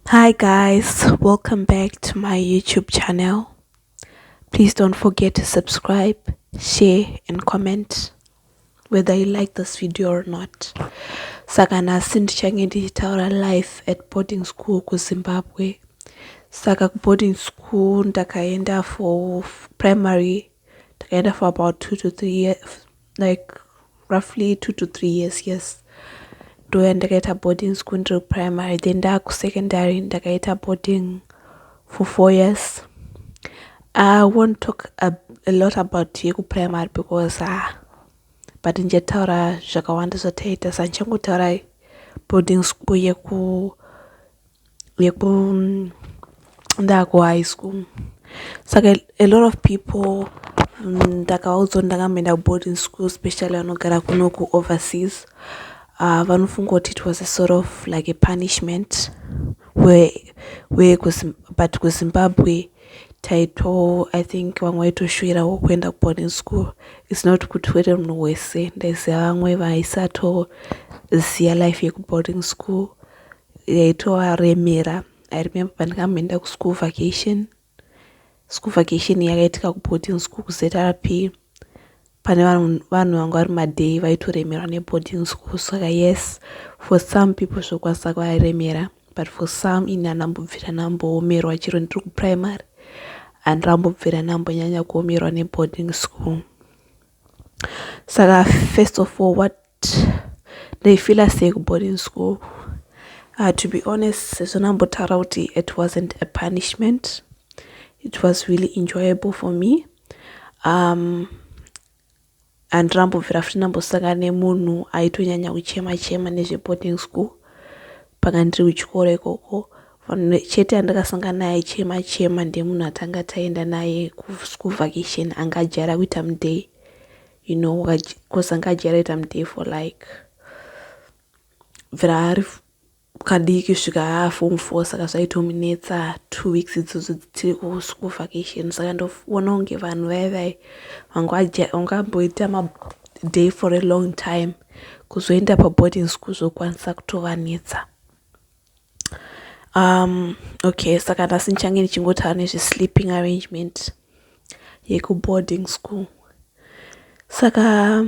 Hi guys, welcome back to my YouTube channel. Please don't forget to subscribe, share and comment whether you like this video or not. Saka nhasi ndichange ndichitaura life at boarding school kuZimbabwe. Saka kuboarding school ndakaenda for primary takaenda for about two to three years like roughly two to three years yes ndoya ndakaita boarding school ndiri kuprimary then ndakusecondary ndakaita boarding for four years i won't talk a, a lot about yekuprimary because ah, but ndichataura zvakawanda zvataita sa ndichangotaura boarding school yeku yeku ndaku high school saka a lot of people ndakaudzwa mm, ndakamboenda kuboarding school specially vanogara kuno kuoverseas uh, vanofunga kuti it was a sort of like a punishment where, where kusim, but kuzimbabwe taito i think vamwe vaitoshuvirawo kuenda kuboarding school its not kuti wete munhu wese ndaiziva vamwe vaisatoziva life yekuboarding school yaitovaremera i remember pandakamboenda kuschool vacation school vacation yakaitika kuboarding school kuzrp pane vanhu vanga vari maday vaitoremerwa neboarding school saka yes for some people zvokwanisa kuvaremera but for some ini andambobvira ndamboomerwa chero ndiri kuprimary andambobvira ndambonyanya kuomerwa neboarding school saka first of all what ndaifeeler sei kuboarding school uh, to be honest sezvo ndambotaura kuti it wasn't a punishment it was really enjoyable for me um handinambobvira futi ndambosangana nemunhu aitonyanya kuchema chema nezveboarding school panga ndiri kuchikoro ikoko vanhu chete andakasangana naye chema chema ndemunhu atanga taenda naye kuschool vacation anga ajara kuita muday you know cause anga achiaraita mudee for like bvira ari kadiki svika aafom four saka zvaitomunetsa two weeks idzodzo tiri kuschool vacation saka ndoona kunge vanhu vaye vaye vangamboita maday for a long time kuzoenda paboarding school zvokwanisa kutovanetsa um okay saka nhasi ndichange ndichingotaura nezvesleeping arrangement yekuboarding school saka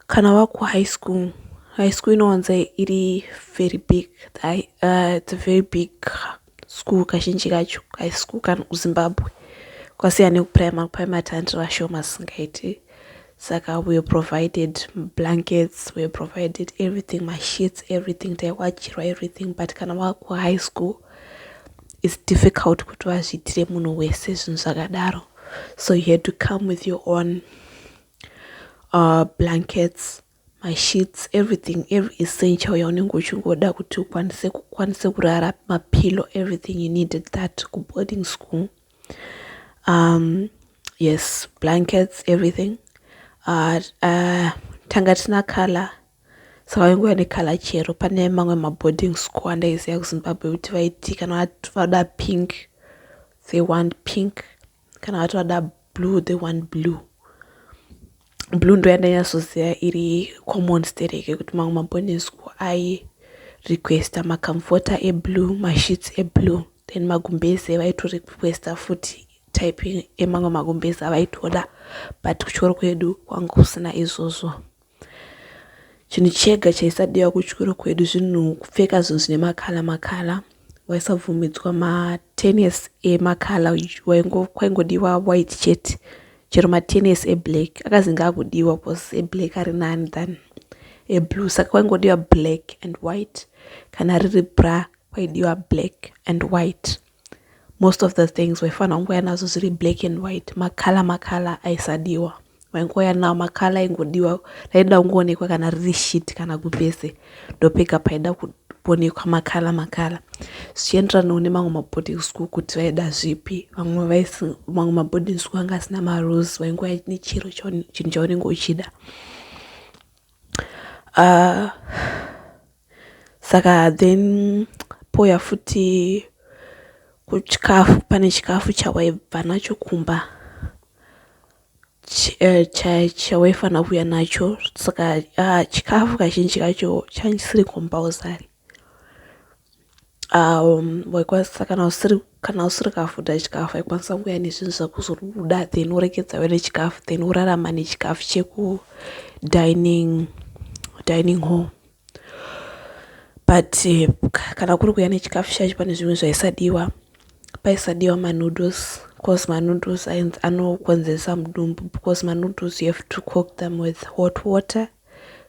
kana wakuhigh school high school inowanza iri very big uh, it's a very big school kazhinji kacho high school kana kuzimbabwe kwasiya nekuprimary kuprimary tandi vashoma singaiti saka weare provided blankets weare provided everything masheets everything taiwachirwa everything but kana wakuhigh school its difficult kuti vazviitire munhu wese zvinhu zvakadaro so you had to come with your own uh, blankets masheets everything every essential yaunenge uchingoda kuti ukwanise kukwanise kurara mapillow everything you needed that kuboarding school um, yes blankets everything uh, uh, tanga tina color saka wainguva nekala chero pane mamwe maboarding school andaiziva kuzimbabwe kuti vaiti kana vada pink they want pink kana vati vada blue they want blue blue ndo yandanyatsoziva iri common stereke kuti mamwe mabonesku ayi requesta macomforter eblue masheets eblue then magumbeze vaitorequesta futi typing emamwe magumbeze avaitoda but kuchikoro kwedu kwanga kusina izvozvo chinhu chega chaisadiwa kuchikoro kwedu zvinhu kupfeka zvinhu zvine makala makala waisabvumidzwa matenis emakala kwaingodiwa white chet chero matenis eblack akazinge akudiwa bcause eblack ari nani than eblue saka kwaingodiwa black and white kana riri bra kwaidiwa black and white most of the things waifanira kungouya nazo zviri black and white makala makala aisadiwa waingouya nawo makala aingodiwa raida kungoonekwa kana riri shit kana kupese ndopega paida kuonekwa makala makala zvichienderanawo nemamwe maboarding school kuti vaida zvipi vamwe vamwe maboarding school anga asina marules waingouya nechiro chinhu chaunenge uchida uh, Saka then pouya futi kuchikafu pane chikafu chawaibva nacho kumba eh, chawaifanira kuuya nacho saka ah, chikafu kazhinji kacho chaisiri compulsory um, waikwanisa kana usiri kana usiri kafuta chikafu aikwanisa kuuya nezvinhu zvakuzoruda then urekedzawe nechikafu then urarama nechikafu chekudining dining hall but kana kuri kuya nechikafu chacho pane zvimwe zvaisadiwa paisadiwa manoodles because manoodles anokonzeresa mudumbu because manoodles you have to cook them with hot water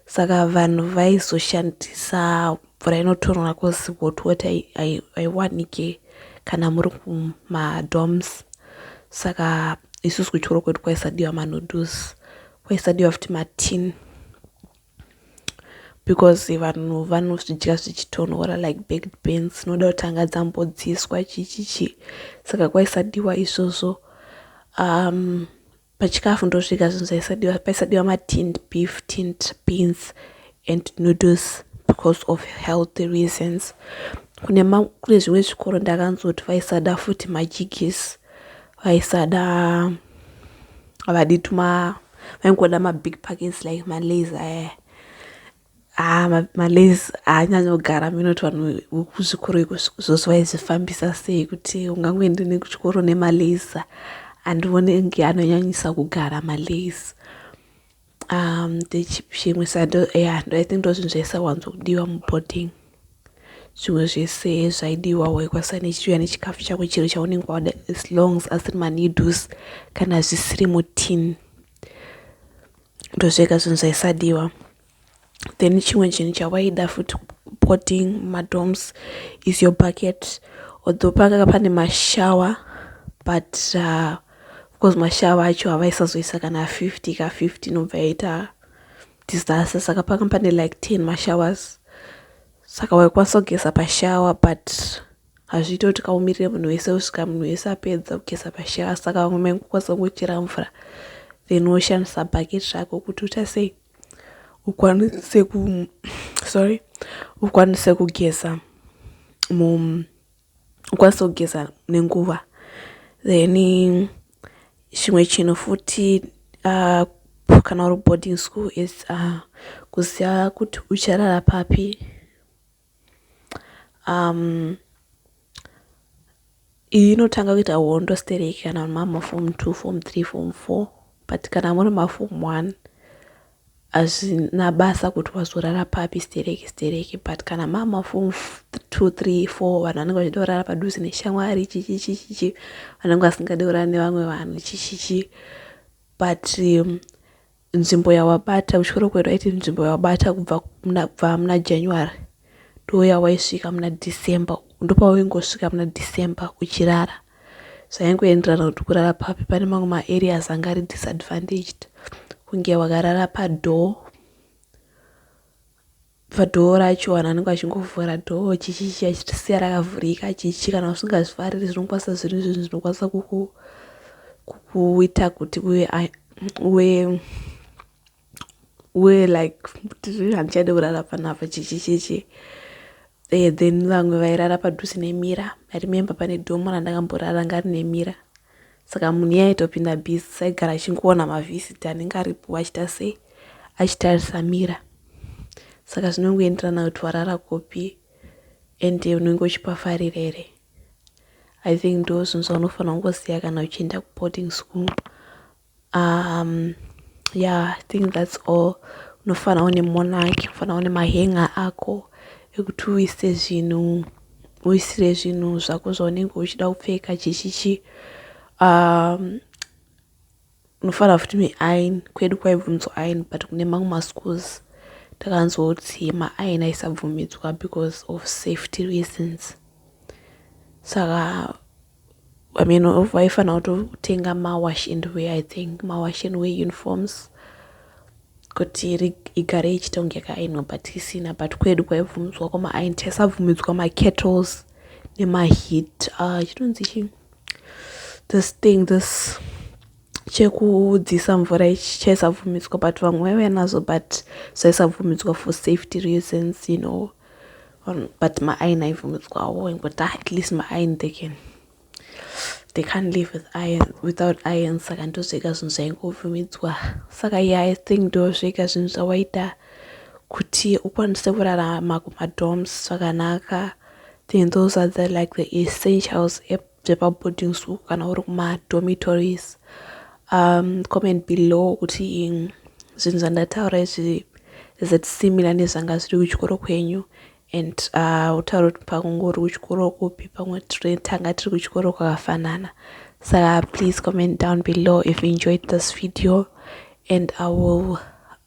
saka vanhu vaizoshandisa mvura inotonhora because hot water haiwanike kana muri kumadoms saka isusu kuchikoro kwedu kwaisadiwa manoodles kwaisadiwa futi matini because vanhu vanozvidya zvichitonhora like baked beans dzinoda kutanga dzambodziiswa chichichi saka kwaisadiwa izvozvo um pachikafu ndosvika zvinhu zvaisadiwa paisadiwa matinned beef tinned beans and noodles because of healthy reasons kune kune zvimwe zvikoro ndakanzoti vaisada futi majigisi vaisada Havadi tuma vaingoda mabig packets like malays aya eh. ah, ma, malays haanyanyogara ah, minoti vanhu vekuzvikoro iko zvose vaizvifambisa sei kuti ungangoende nekuchikoro nemalays andione nge anonyanyisa kugara malays um chimwe sando yeah, i think ndozvinhu zvaisawanzokudiwa muboarding zvimwe zvese zvaidiwa waikwanisa nechiuya nechikafu chako chiro chaunenge wada as long as asiri maneedles kana zvisiri mutin ndozvega zvinhu zvaisadiwa then chimwe chinhu chawaida futi potting madoms is your bucket although panga pane mashower but uh, because mashower acho havaisazoisa kana 50 ka 50 inobva yaita disaster saka panga pane like 10 mashowers saka waikwanisa kugeza pashower but hazviite kuti kaumirire munhu wese usvika munhu wese apedza kugeza pashower saka vamwe maingokwanisa kungochera mvura then woshandisa bucket rako kuti uta sei ukwanise ku sorry ukwanise kugeza mu ukwanise kugeza nenguva then chimwe chinhu futi uh, kana uri boarding school is uh, kuziva kuti ucharara papi um, iyi inotanga kuita hondo stereki kana muri mama form two form three form four but kana muri maform one hazvina basa kuti wazorara papi stereki stereki but kana mama form two three four vanhu vanenge vachida kurara padhuze neshamwari chichichichichi vanenge vasingade kurara nevamwe vanhu chichichi but um, nzvimbo yawabata kuchikoro kwedu aiti nzvimbo yawabata kubva kubva muna january ndoya waisvika muna december ndopawaingosvika muna december uchirara zvaingoenderana kuti kurara papi pane mamwe maareas anga ari disadvantaged kunge wakarara padoor Padoor racho vanhu vanenge vachingovhura door chichichi achisiya rakavhurika chichi kana usingazvifariri zvinokwanisa zviri zvinhu zvinokwanisa kuku kukuita kuti uve uve uve like tiri handichaide kurara panapa chichi chichi eh, then vamwe vairara padhuze nemira i remember pane domo randakamborara ngari nemira Saka munhu iye aitopinda busy saigara achingoona mavhisit anenge aripo achita sei achitarisa mira saka zvinongoenderana kuti warara kupi and unenge uchipafarira here i think ndo zvinhu zvaunofanira kungoziva kana uchienda kuboarding school um yeah i think that's all unofanira une monarch unofanira une mahanger ako ekuti uise zvinhu uisire zvinhu zvako zvaunenge uchida kupfeka chichichi um unofanira futi neain kwedu kwaibvunzwa ain but kune mamwe maschools takanzoti maain aisabvumidzwa because of safety reasons saka so, I mean vaifanira kutotenga mawash and wear i think mawash and wear uniforms kuti igare ichiita kunge yakaainwa but isina but kwedu kwaibvumidzwa kwamaain taisabvumidzwa makettles nemaheat ah, chitonzi uh, chii this thing this chekudzisa mvura ichi chaisabvumidzwa but vamwe vaive nazo but zvaisabvumidzwa for safety reasons you know um, but my iron aibvumidzwawo ingoti ah, at least my iron they can they can't live with iron without iron saka ndozvega zvinhu zvaingobvumidzwa saka ye i think ndozvega zvinhu zvawaita kuti ukwanise kurarama kumadoms zvakanaka then those are the like the essentials dzepaboarding school kana uri kumadormitories um comment below kuti zvinhu zvandataura izvi is it similar nezvanga zviri kuchikoro kwenyu and uh, utaura kuti pakungori kuchikoro kupi pamwe tanga tiri kuchikoro kwakafanana saka please comment down below if you enjoyed this video and i will